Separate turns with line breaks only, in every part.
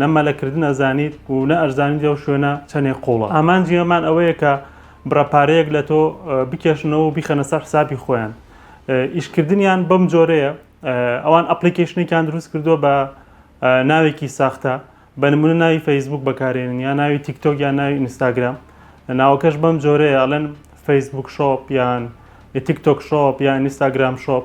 نە مەلەکردن ئەزانیت و نە ئەشزانیت ئەو شوێنە چەندێک قوڵە. ئامانجی ئەمان ئەوەیە کە بڕە پارەیەک لە تۆ بکێشنەوە و بیخەنە سەر حسابی خۆیان. ئیشکردنیان بەم جۆرەیە، ئەوان ئەپڵیکەیشنێکیان دروست کردووە بە ناوێکی ساختە، بە نموونە ناوی فەیسبووک بەکارێنن یا ناوی تیکتۆک یا ناوی ئینستاگرام. ناوەکەش بەم جۆرەیە ئەڵێن فەیسبووک شۆپ یان تیکتۆک شۆپ یا ئینستاگرام شۆپ.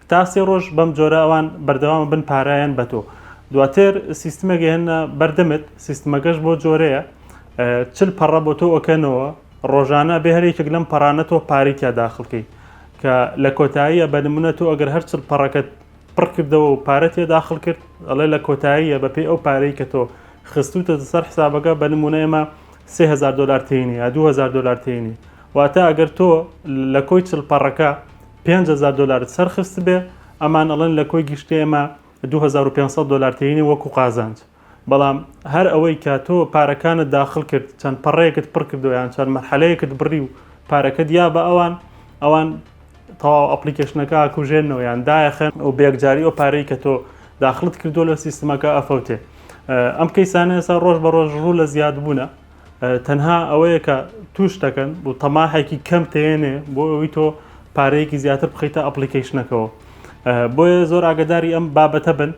تا سێ ڕۆژ بەم جۆرە ئەوان بەردەوام ئەبن پارەیان بە تۆ. دواتر سیستمێک ئەهێننە بەر دەمت، سیستمەکەش بەو جۆرەیە چل پەڕە بۆ تۆ ئەکەنەوە، ڕۆژانە ئەبێ هەر یەکێک لەم پەڕانە تۆ پارەی تیا داخڵ کەیت. کە لە کۆتاییە بە نموونە تۆ ئەگەر هەر چل پەڕەکەت پڕ کردەوە و پارەت تیا داخڵ کرد، ئەڵێ لە کۆتاییە بەپێی ئەو پارەی کە تۆ خستووتەتە سەر حسابەکە، بە نموونە ئێمە سێ هەزار دۆلار تێینە یا دوو هەزار دۆلار تێینە. واتە ئەگەر تۆ لە کۆی چل پەڕەکە، پێنج هەزار دۆلارت سەر خستبێ ئەمان ئەڵێن لە کۆی گشتی ئێمە دوو هەزار و پێنج سەد دۆلار تێینە وەکو قازانج بەڵام هەر ئەوەی کە تۆ پارەکانت داخل کرد چەند پەڕەیەکت پڕ کردو یان چەند مەرحەلەیەکت بڕی و پارەکە دیا بە ئەوان ئەوان تەواو ئەپلیکەشنەکە ئاکوژێنەوە یان دایەخەن و بێگجاری ئەو پارەی کە تۆ داخلت کردووە لە سیستمەکە ئەفەوتێ ئەم کەیسانە ئێستا ڕۆژ بە ڕۆژ ڕوو لە زیادبوونە تەنها ئەوەیە کە توش دەکەن بۆ تەماحێکی کەم تێنێ بۆ ئەوی تۆ پارەیەکی زیاتر بخیتە ئەپلیکیشنەکەەوە بۆیە زۆر ئاگداری ئەم بابەتە بن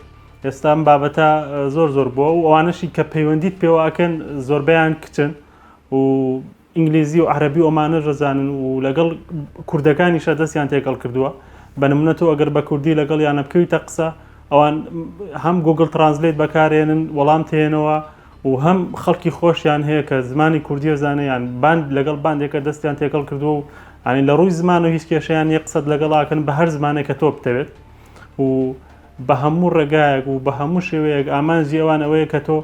ئێستام بابەتە زۆر زۆر بۆ و ئەوانەشی کە پەیوەندیت پێوەکەن زۆربیان کچن و ئینگلیزی و عربی ئۆمانە ژەزانن و لەگەڵ کوردەکانیشە دەستیان تێکەڵ کردووە بەنمونە تۆ ئەگەر بە کوردی لەگەڵ یانە بکەویتە قسە ئەوان هەم گوگل ترانزلێت بەکارێنن وەڵام تێنەوە و هەم خەڵکی خۆشیان هەیە کە زمانی کوردیە زانێ یان باند لەگەڵ باندێکە دەستیان تێکەڵ کردووە و ئەنی لە ڕووی زمان و هیچ کێشیان یە قسەت لەگەڵاکەن بە هەر زمانێک کە تۆ بتەوێت و بە هەموو ڕێگایەک و بە هەموو شێوەیەک ئامانجی ئەوان ئەوەیە کە تۆ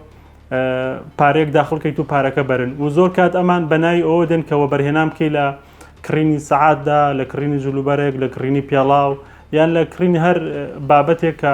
پارێک داخڵکەیت و پارەکە بەرن و زۆر کات ئەمان بەناوی ئەوە دێن کەەوە بەرهێنام بکەی لە کڕینی سەعاتدا لە کڕینی جلوبەرێک لە کڕینی پێڵاو یان لە کڕینی هەر بابەتێک کە